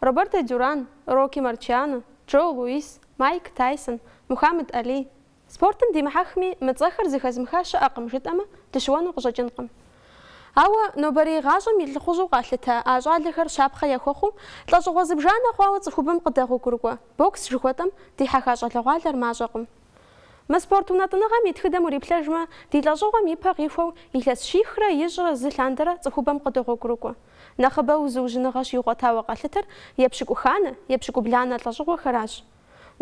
Роберто Дюран, Рокки Марчиано, Джо Луис, Майк Тайсон, Мухаммед Али. Спортым димыхьэхми, мы цӏэхэр зыхэзмыха щыӏэкъым жытӏэмэ, дыщыуэну къыщӏэкӏынкъым. Ауэ нобэрей гъащӏэм и лӏыхъужьу къалъытэ а щӏалэхэр щапхъэ яхуэхъуу, лӏэщӏыгъуэ зыбжанэ хъуауэ цӏыхубэм къыдэгъуэгурыкӏуэ бокс жыхуэтӏэм дихьэха щӏалэгъуалэр мащӏэкъым. Мы спорт унэтӏыныгъэм и тхыдэм уриплъэжмэ, ди лӏэщӏыгъуэм и пэ къихуэу илъэс щихрэ ищӏрэ зы лъандэрэ цӏыхубэм къыдогъуэгурыкӏуэ. Нэхъыбэу зыужьыныгъэ щигъуэтауэ къалъытэр епщыкӏуханэ, епщыкӏубланэ лӏэщӏыгъуэхэращ.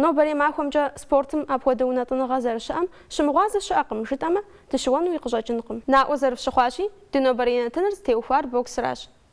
Нобэрей махуэмкӏэ спортым апхуэдэ унэтӏыныгъэ зэрыщыӏэм щымыгъуазэ щыӏэкъым жытӏэмэ, дыщыуэнуи къыщӏэкӏынкъым. Наӏуэ зэрыфщыхъуащи, ди нобэрей нэтыныр зытеухуар боксращ.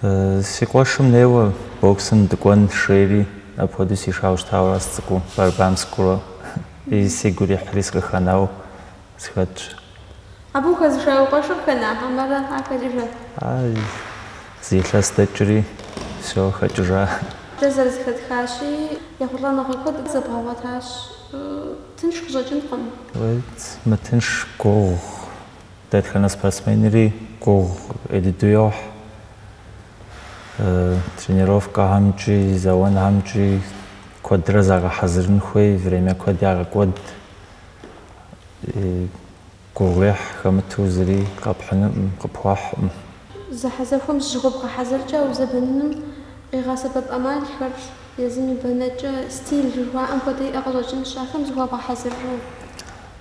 Си къуэшым неуэ боксым дыкӏуэн жери, апхуэдэу сишауэ щытауэ ара сцӏыкӏуу, борьбам сыкӏуэурэ сигу ирихьри сыкъыхэнауэ сыхэтщ. Абы ухэзыша уи къуэшыр хэна хьэмэрэ ар хэкӏыжа? А, зы илъэс дэкӏри, всё, хэкӏыжа. Дэ зэрызэхэтхащи, ехъулӏэныгъэ куэд зэбгъэгъуэтащ. Тынш къыщӏэкӏынкъым. Уей, мытынш, гугъу. Дэтхэнэ спортсменри гугъу ӏей дыду йохь тренировкэхьэмкӏи, зэуэнхьэмкӏи куэдрэ загъэхьэзырын хуей, время куэд ягъэкӏуэд, гугъуехь хэмыту зыри къэпхьынукъым, къыпхуэхькъым. Зэхьэзэхуэм зыщыхуэбгъэхьэзыркӏэ узэбэныным къигъэсэбэп ӏэмалхэр, езым и бэнэкӏэ, стиль жыхуаӏэм хуэдэ иӏэ къыщӏэкӏынщ, ахэм зыхуэбгъэхьэзыррэ?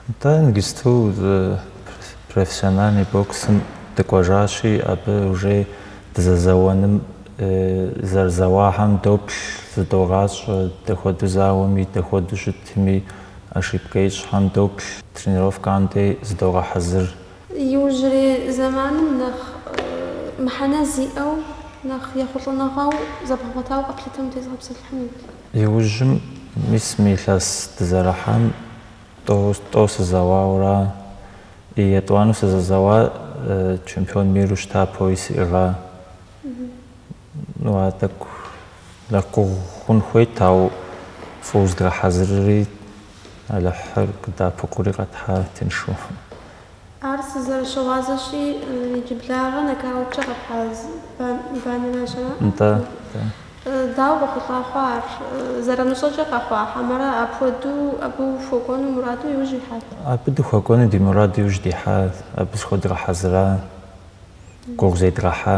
Атӏэ иджыпсту профессиональный боксым дыкӏуэжащи, абы уже дызэзэуэным зэрызэуахьэм доплъ, зыдогъащӏэ, дапхуэдэу зауэми, дапхуэдэу щытми, ошибкэ ищӏхьэм доплъ, тренировкэм дей зыдогъэхьэзыр. Иужьрей зэманым нэхъ мыхьэнэ зиӏэу, нэхъ ехъулӏэныгъэу зэбгъэгъуэтауэ къэплъытэм утезгъэпсэлъыхьынут. Иужьым мис мы илъэс дызэрыхьам Тӏэу, тӏэу сызэуауэ ара. И етӏуанэу сызэзэуа чемпион миру щыта, пояс иӏыгъа. Ну, ар тӏэкӏу нэхъ гугъу хъун хуейт, ауэ фӏыуэ зыдгъэхьэзырри, Алыхьыр къыддэӏэпыкъури къэтхьа тыншу. Ар сызэрыщыгъуазэщи, иджыблагъэ нокауткӏэ къэпхьа банэращ. Нтӏэ, нтӏэ. Дауэ къохъулӏа хъуа ар? Зэрымыщӏэкӏэ къэхъуа хьэмэрэ апхуэдэу абы ухуэкӏуэну мураду иужь уихьат? Абы дыхуэкӏуэну ди мураду иужь дихьа, абы зыхуэдгъэхьэзыра, гугъу зедгъэхьа.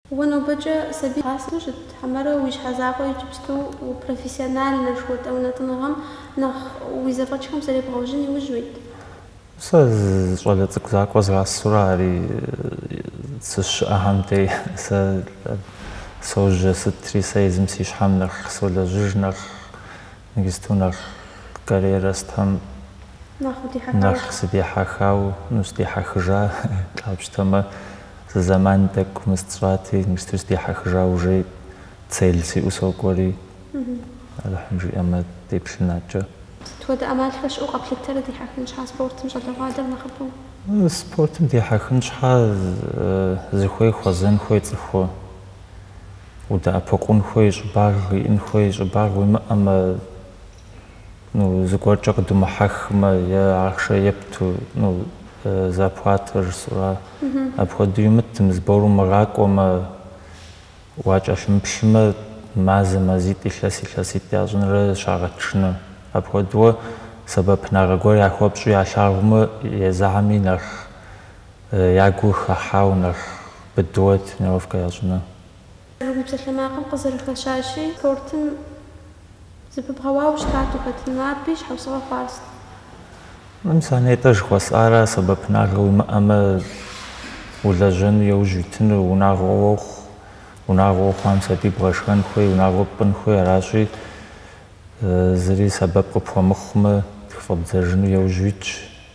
Уэ нобэкӏэ сабий бгъасэу щыт, хьэмэрэ уи щхьэ закъуэ иджыпсту профессиональнэ жыхуэтӏэ унэтӏыныгъэм нэхъ уи зэфӏэкӏхэм зэребгъэужьын иужь уит? Сэ щӏалэ цӏыкӏу закъуэ згъасэурэ ари сыщыӏэхьэм дей сэ сожьэ сытри, сэ езым си щхьэм нэхъ солэжьыж, нэхъ Ныгысту нэхъ карьерэ сытхьэм нэхъ сыдихьэхау, ну, сыдихьэхыжа, къапщтэмэ, зы зэман тӏэкӏу мыст сщӏати, ныгысту сыдихьэхыжа, уже цель сиӏэу сокӏуэри, Алыхьым жиӏэмэ, деплъын адэкӏэ. Сыт хуэдэ ӏэмалхэр щыӏэу къэплъытэрэ дихьэхын щхьа спортым щӏалэгъуалэр нэхъыфӏу? Спортым дихьэхын щхьа зыхуей хуэзэн хуей цӏыху удэӏэпыкъун хуей щӏыбагъ иӏын хуей щӏыбагъ уимыӏэмэ, ну, зыгуэркӏэ къыдумыхьэхмэ, е ахъшэ епту, ну, зарплатэ жысӏэура, апхуэдэу имытым, сбор умыгъакӏуэмэ, уакӏэлъымыплъымэ, мазэ мазитӏ, илъэс илъэситӏ ящӏынрэ щагъэтыжыну. Апхуэдэуэ сэбэпынагъэ гуэр яхуэпщӏу ялъагъумэ, езыхьэми нэхъ. Ягу хыхьау нэхъ быдыуэ тренировкэ ящӏыну. Ар уи псалъэмакъым къызэрыхэщащи, спортым зэпыбгъэуауэ щытат ухэтыну. Абы и щхьэусыгъуэ хъуар сыт? Мис а нетӏэ жыхуэсӏара, сэбэпынагъэ уимыӏэмэ, улэжьэну яужь уитыну, унагъуэ уохъу, унагъуэ ухъуам сабий бгъэшхэн хуей, унагъуэ пӏын хуей, аращи, зыри сэбэп къыпхуэмыхъумэ, тхыфӏэбдзэжыну яужь уитщ,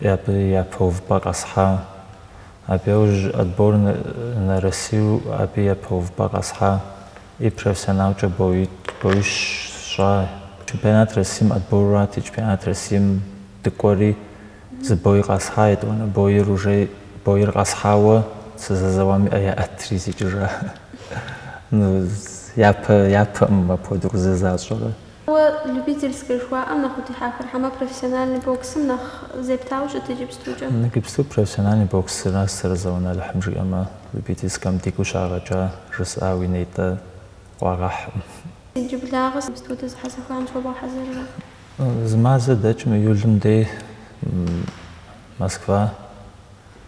Абы япэ увыпӏэ къэсхьа. Абы яужь отбор на Россию абы япэ увыпӏэ къэсхьа и профессионалкӏэ боищ сщӏа. Чемпионат Россиим отборрати, чемпионат Россиим дыкӏуэри зы бой къэсхьа, етӏуанэ бойр уже бойр къэсхьауэ сызэзэуам и ӏэ яӏэтри сикӏыжа. Ну, япэ, япэӏым апхуэдэу къызэзащӏэрэ. Уэ любительскэ жыхуаӏэм нэхъ удихьэхрэ хьэмэ профессиональный боксым нэхъ зептауэ щыт иджыпстукӏэ? Иджыпсту профессиональный боксращ сэрызэуэну, Алыхьым жиӏэмэ, любительскэм дигу щагъэкӏа жысӏа уи нетӏэ къуагъэхькъым. Иджыблагъэ сыт хуэдэ зэхьэзэхуэм зыхуэбгъэхьэзыррэ? Зы мазэ дэкӏым июлым дей Москва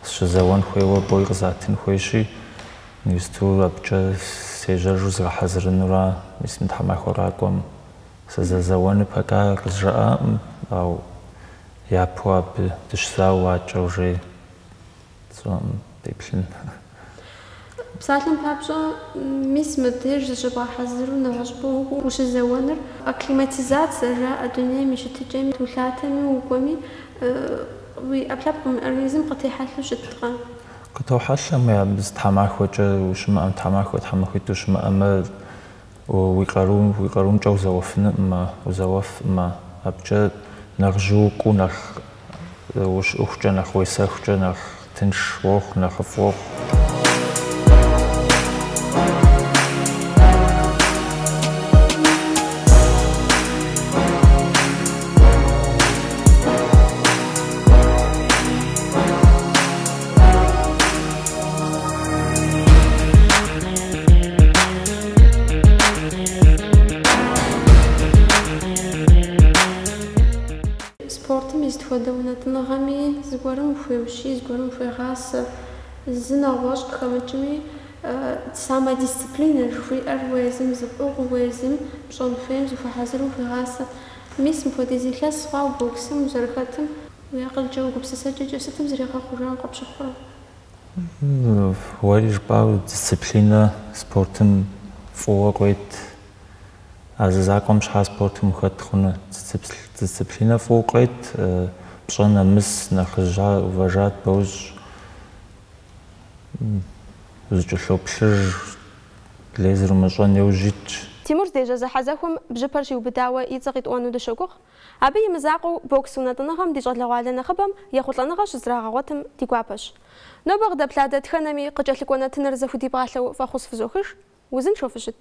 Сыщызэуэн хуейуэ бой къызатын хуейщи, ныгысту абыкӏэ сежьэжу згъэхьэзырынура, мис мы тхьэмахуэ къакӏуэм сызэзэуэну пока къызжаӏакъым, ау япэу абы дыщызауэу адэкӏэ уже сщӏэкъым, деплъын. Псалъэм папщӏэ, мис мыбдеж зыщыбгъэхьэзыру нэгъуэщӏыпӏэ укӏуэу ущызэуэныр, акклиматизация жаӏэ дунейм и щытыкӏэми, улъатэми укӏуэми, уи ӏэпкълъэпкъым организм къытехьэлъэу щыткъэ? Къытохьэлъэ, абы зы тхьэмахуэкӏэ ущымыӏэм, тхьэмахуэ тхьэмахуитӏ ущымыӏэмэ, Уи къарум, уи къарумкӏэ узэуэфынукъымэ, узэуэфӏмэ, абыкӏэ нэхъ жьыуэ укӏуэу, нэхъ ущыӏэхукӏэ, нэхъ уесэхукӏэ, нэхъ тынш уохъу, нэхъыфӏ уохъу. Спортым и сыт хуэдэ унэтӏыныгъэми зыгуэрым ухуеущий, зыгуэрым ухуегъасэ. Зы нэгъуэщӏ къыхэмыкӏми, самодисциплинэ жыхуиӏэр уэ езым зыпӏыгъыу, уэ езым пщӏэн хуейм зыхуэхьэзыру ухуегъасэ. Мис мыпхуэдиз илъэс хъуауэ боксым узэрыхэтым, уи акъылкӏэ, уи гупсысэкӏэкӏэ сытым зригъэхъуэжауэ къыпщыхъурэ? Уэри жыпӏауэ дисциплинэ спортым фӏыуэ къыует. А зы закъуэм щхьа спортым ухэт хъуну? Дисциплинэ фӏыуэ къыует, пщӏэ нэмыс нэхъыжьхэр уважать бощӏ, узыкӏэлъоплъыж лей зэрумыщӏэн иужь уитщ. Тимур здежьэ зэхьэзэхуэм бжьыпэр щиубыдауэ и цӏэ къитӏуэну дыщогугъ. Абы и мызакъуэу, бокс унэтӏыныгъэм ди щӏалэгъуалэ нэхъыбэм ехъулӏэныгъэ щызрагъэгъуэтым ди гуапэщ. Нобэ къыдэплъа дэтхэнэми къыкӏэлъыкӏуэ нэтыныр зэхудипӏалъэу фӏэхъус фызохыж, узыншэу фыщыт.